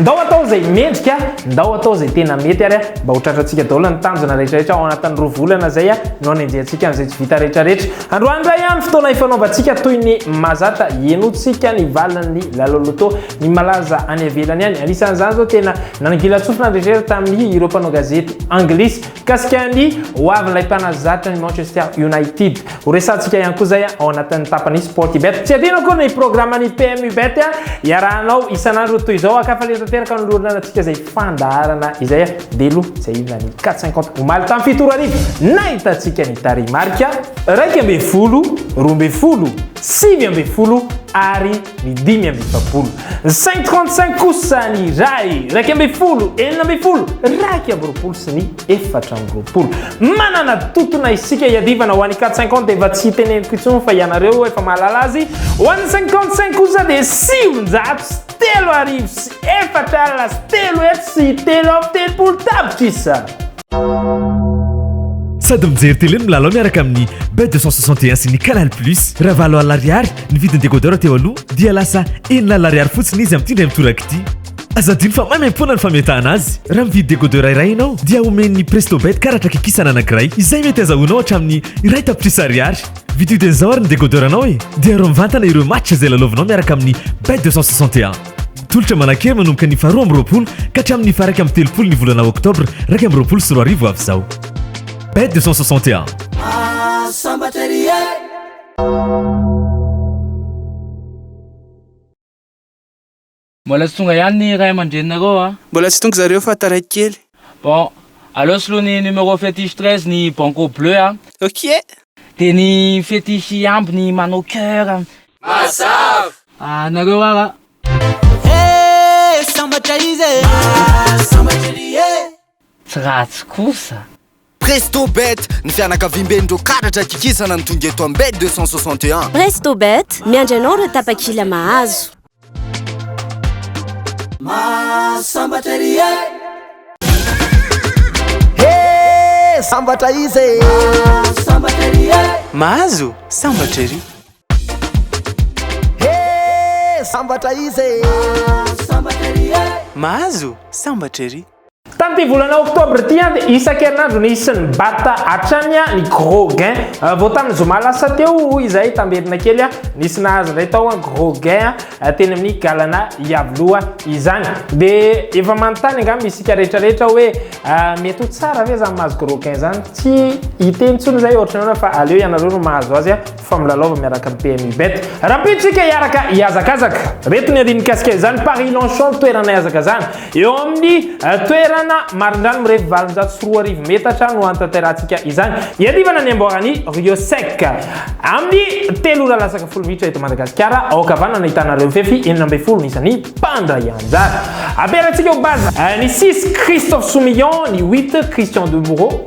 Ndao hatao izay mendrika, ndao hatao izay tena mety ary mba ho tratrantsika daholo ny tanjona rehetrarehetra ao anatin'ny roa volana izay no anenjehantsika an'izay tsy vita rehetrarehetra. Androany indray no fotoana ifanaovantsika toy ny mazata, henointsika ny valin'ny lalao loto ny malaza any ivelany any. Anisan'izany izao tena nanangilan-tsofina rehetrarehetra tamin'ireo mpanao gazety anglisy. Mikasika ny ho avin'ilay mpanazatra ny Manchester United, ho resahantsika ihany koa izay ao anatin'ny tapany Sportybet. Tsy adino akory ny programan'ny PMUBet iarahanao isan'andro toy izao. An-kafaliana tanteraka no noloranantsika izay fandaharana izay. Dia aloha tsy ahivina ny Quatre Cinquante omaly tamin'ny fito ora arivo, nahitantsika ny tarehimarika. Iraika ambin'ny folo, roa ambin'ny folo, sivy ambin'ny folo ary. ny dimy amby efapolo, ny cinq trente cinq kosa ny iray, iraika ambin'ny folo, enina ambin'ny folo, iraika amby roapolo sy ny efatra amby roapolo. Manana totona isika hiadivana ho an'ny quatre cinquante efa tsy teneniko intsony fa ianareo efa mahalala azy, ho an'ny cinquante cinq kosa dia sivinjato sy telo arivo sy efatra alina sy telo hetsy sy telo amby telopolo tapitrisa. Sady mijery télé no milalao miaraka amin'ny Bet 261 sy ny Canal Plus. Raha valo alina ariary ny vidin'ny décodeur teo aloha dia lasa enina alina ariary fotsiny izy amin'ity indray mitoraka ity. Aza adino fa maimaimpoana ny fametahana azy. Raha mividy décodeur iray ianao dia omen'ny Prestobet karatra kikisana anankiray izay mety azahoanao hatramin'ny iray tapitrisa ariary. Vidio dia izao ary ny décodeur-nao e! Dia arovy mivantana ireo match izay lalaovinao miaraka amin'ny Bet 261. Tolotra manan-kery manomboka ny faharoa amby roapolo ka hatramin'ny faha-iraika amby telopolo ny volana oktobra iraika amby roapolo sy roa arivo avy izao. Bet 261. Mbola tsy tonga ihany ny ray aman-dreninareo a! Mbola tsy tonga zareo fa taraiky kely. Bon, aleo soloy ny numéro fétiche treize ny banco bleu a! Ok! Dia ny fétiche ambiny manao coeur. Mazava! Ah nareo ara. Hey sambatra izy e. Ah sambatra ery e. Tsy ratsy kosa. Prestobet, ny fianakaviamben'ireo karatra kikisana ny tonga eto Ambed 261. Prestobet, miandry anao ireo tapakila mahazo. Mahasambatra ery e. Hey sambatra izy e. Mahasambatra ery e. Mahazo sambatra ery. Hee sambatra izy e! Mahazo sambatra ery e! Mahazo sambatra ery! Tamin'ity volana oktobra ity dia isan-kerinandro nisy ny bat hatrany ny gros gain. Vao tamin'ny zoma lasa teo izahay tamberina kely nisy nahazo indray tao gros gain teny amin'ny Galana Iavoloha izany. Dia efa manontany angamba isika rehetra rehetra hoe mety ho tsara ve izany mahazo gros gain izany? Tsy hiteny intsony izahay ohatran'ny hoe fa aleo ianareo no mahazo azy. fa milalaova miaraka amin'ny PMI Bet. Rahampidintsika hiaraka hihazakazaka. Reto ny andiany mikasika izany, Paris Longchamp toerana hihazakazahana. Eo amin'ny eh, toerana marindrano mirefy valonjato sy roa arivo metatra no hanatanterahitsika izany. Iadivana ny amboara ny Rio Sec. Amin'ny telo ora lasaka folo minitra eto Madagasikara, ao ankavanana ahitana ireo mifefy enina ambin'ny folo isan'ny mpandray anjara. Aperantsika ho baza. Eh, ny six, Christophe Soumillon, ny huit, Christian Demoureau,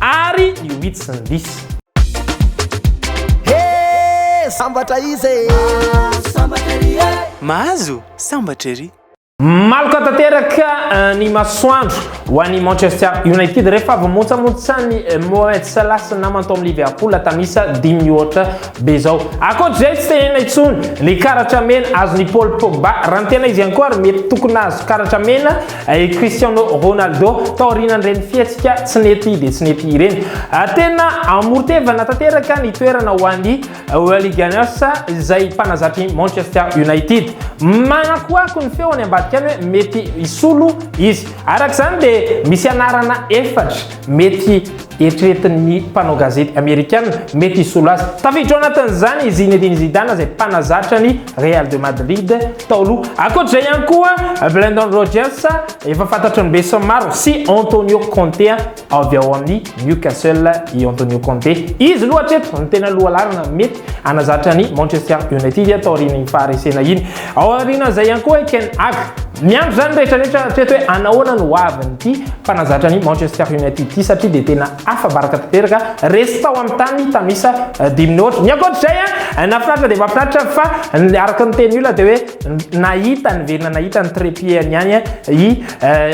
ary ny wits ny dis. He! Sambatra iza e! Mahazo sambatra ery e! Mahazo sambatra ery! Maloka tanteraka eh, ny masoandro ho an'i Manchester United rehefa avy motsamotsany eh, Mohamed Salah sy namany tao amin'ny Liverpool tamisa dimy mihoatra be izao. Ankoatr'izay tsy tenenina intsony ny karatra mena azon'i Paul Pogba raha ny tena izy ihany koa ary mety tokony hahazo karatra mena I Cristiano Ronaldo taorian'ireny fihetsika tsy nety dia tsy nety ireny. Ah, tena amoron-tevana tanteraka ny toerana ho an'ny Welly Gunners izay mpanazatry Manchester United. Manakoako ny feony ambadika any hoe mety hisolo izy. Araka izany dia misy anarana efatra Mety eritreretin'ny mpanao gazety Amerikana mety hisolo azy. Tafiditra ao anatin'izany i Zinedine Zidane izay mpanazatra ny Real de Madrid tao aloha. Ankoatr'izay ihany koa, Brendan Rodgers efa fantatry ny besinimaro sy Antonio Conte avy ao amin'ny Newcastle i Antonio Conte. Izy loha hatreto no tena lohalarana mety hanazatra ny Manchester United taorian'iny faharesena iny. Ao aoriana izay ihany koa i Ten Hag. Miandry izany ny rehetra rehetra hatreto hoe anahoana no hoavin'ity mpanazatra ny Manchester United ity satria dia tena afa-baraka tanteraka. Resy tao amin'ny tany tamin'isa dimy ny ohatra. Ny ankoatr'izay, nahafinaritra dia mahafinaritra fa araka ny tenin'ny olona dia hoe nahita ny velona nahita ny trépied-ny ihany i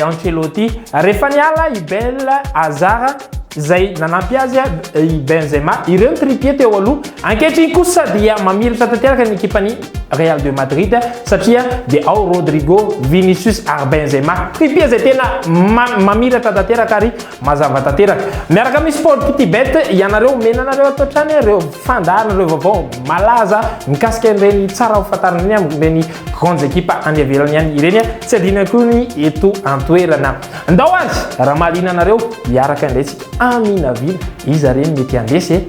Ancelotti. Rehefa niala i Bale, Hazard, izay nanampy azy i Benzema. Ireo ny tripier teo aloha. Ankehitriny kosa dia mamiratra tanteraka ny ekipan'ny Real de Madrid satria dia ao Rodrigo, Vinicius ary Benzema. Tripier izay tena ma mamiratra tanteraka ary mazava tanteraka. Miaraka amin'ny Sport Kitibet, ianareo omena anareo ato hatrany ireo fandaharana, ireo vaovao malaza mikasika ireny tsara ho fantarina ireny amin'ireny grandes équipes any ivelany any ireny. Tsy adino ihany koa ny eto an-toerana. Ndao azy raha mahaliana anareo hiaraka indray tsika aminavina iza re no mety handresy e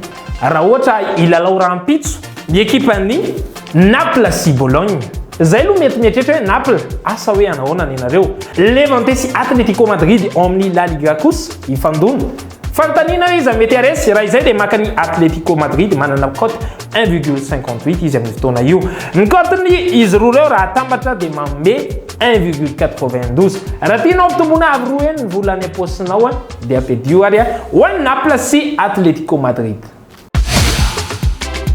raha ohatra hilalao rahampitso ny ekipa ny Naples sy Bologne zay aloha mety mieritreritra hoe Naples asa hoe hanahoana ny anareo Levante sy Atletico Madrid ao amin'ny La Liga kosa hifandona Fanontaniana hoe iza mety haharesy? Raha izay dia maka ny Atletico Madrid manana cote un virgule cinquante huit izy amin'io fotoana io. Ny cote ny izy roa ireo raha atambatra dia manome un virgule quatre vingt douze. Raha tianao ampitomboina avo roa heny ny vola any am-paosinao dia ampidio ary ho an'i Naples sy Atletico Madrid.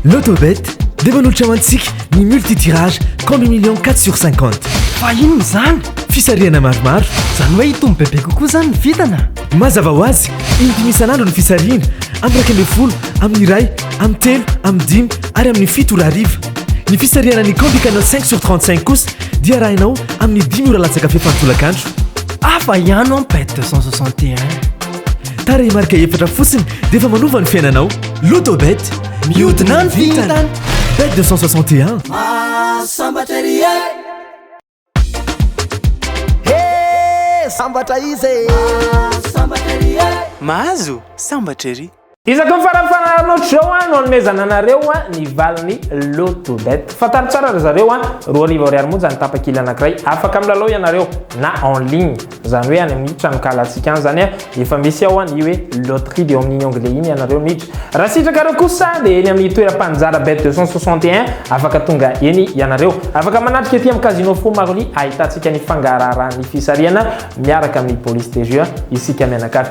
Lotobet dia manolotra ho antsika ny multi-tirage compte million 4 sur 50. Fa inona izany? Fisarihana maromaro. Izany hoe hitombo bebe kokoa izany ny vintana? Mazava ho azy, in-dimy isan'andro ny fisarihana, amin'ny iraika ambin'ny folo, amin'ny iray, amin'ny telo, amin'ny dimy ary amin'ny fito ora hariva. Ny fisarihana ny Candy Canal 5 sur 35 kosa dia arahinao amin'ny dimy ora latsaka fefany tolakandro. Hafa ihany an bet 261. Tarehimarika efatra fotsiny dia efa manova ny fiainanao. Lotobet, mihodina ny vintana. Bet 261. Sambatra ery e. He, sambatra izy e. Sambatra ery e. Mahazo, sambatra ery. Isaky ny farany farany ohatr'izao no hanomezana anareo ny valin'ny Loto Bet. Fantaro tsara ry zareo, roa arivo ariary monja ny tapakila anankiray. Afaka milalao ianareo na en ligne, izany hoe any amin'ny tranonkalantsika any izany. Efa misy ao ny hoe Loterie dia ao amin'iny onglet iny ianareo miditra. Raha sitrakareo kosa dia eny amin'ny toeram-paninjara Bet 261, afaka tonga eny ianareo. Afaka manatrika ety amin'ny Casino Fou Marly ahitantsika ny fangaraharahan'ny fisarihana miaraka amin'ny Police des Jeux isika mianakavy.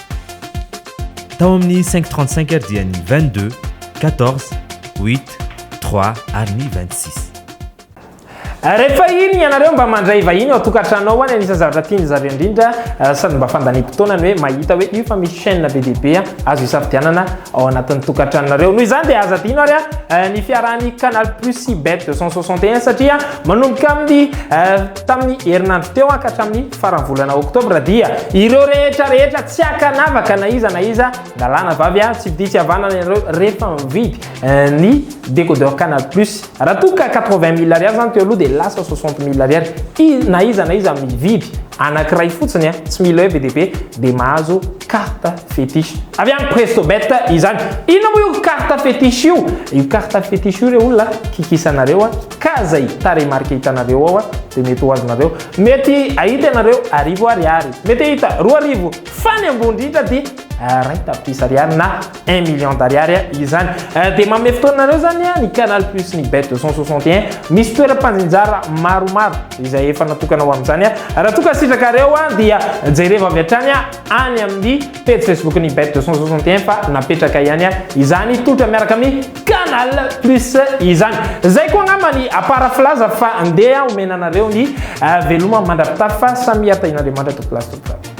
Tao amin'ny cinq trente cinq ary dia ny vingt deux, quatorze, huit, trois ary ny vingt six. Rehefa iny ianareo mba mandray vahiny ao an-tokantrano ao any, anisan'ny zavatra tiany zareo indrindra sady mba fandaniam-potoana ny hoe mahita hoe io fa misy chaîne be dia be azo isafidianana ao anatin'ny tokantranonareo. Noho izany dia aza adino ary ny fiarahan'ny Canal Plus sy Bet deux cent soixante et un satria manomboka amin'ny Tamin'ny herinandro teo ka hatramin'ny faran'ny volana oktobra dia ireo rehetra rehetra tsy ankanavaka na iza na iza na lahy na vavy a, tsy vidia tsy havanana ianareo rehefa mividy ny décodeur Canal Plus. Raha toa ka 80 mille ariary izany teo aloha dia lasa 60 mille ariary. I, na iza na iza mividy anankiray fotsiny a, tsy mila hoe be dia be, dia mahazo carte fétiche. Avy any Prestobet izany. Inona moa io carte fétiche io? Io carte fétiche io re olona kikisanareo a, ka zay tarehimarika hitanareo ao dia mety ho azonareo mety ahita ianareo arivo ariary mety ahita roa arivo fa ny ambony indrindra dia rin tapitrisa ariary na un million d'ariary izany dia manome fotoanareo zany ny canal plus ny bet 261 misy toeram-panjinjara maromaro izay efa natokana ho amin'izany raha toa ka sitrakareo dia jereva avy hatrany any amin'ny pejy Facebook ny Bête 261 fa napetraka ihany izany tolotra miaraka amin'ny Canal Plus izany. Zay koa angamba ny à part filaza fa ndeha omena anareo ny veloma mandra-pitafy fa samia tahin'Andriamanitra tompoko laza tompoko vavy.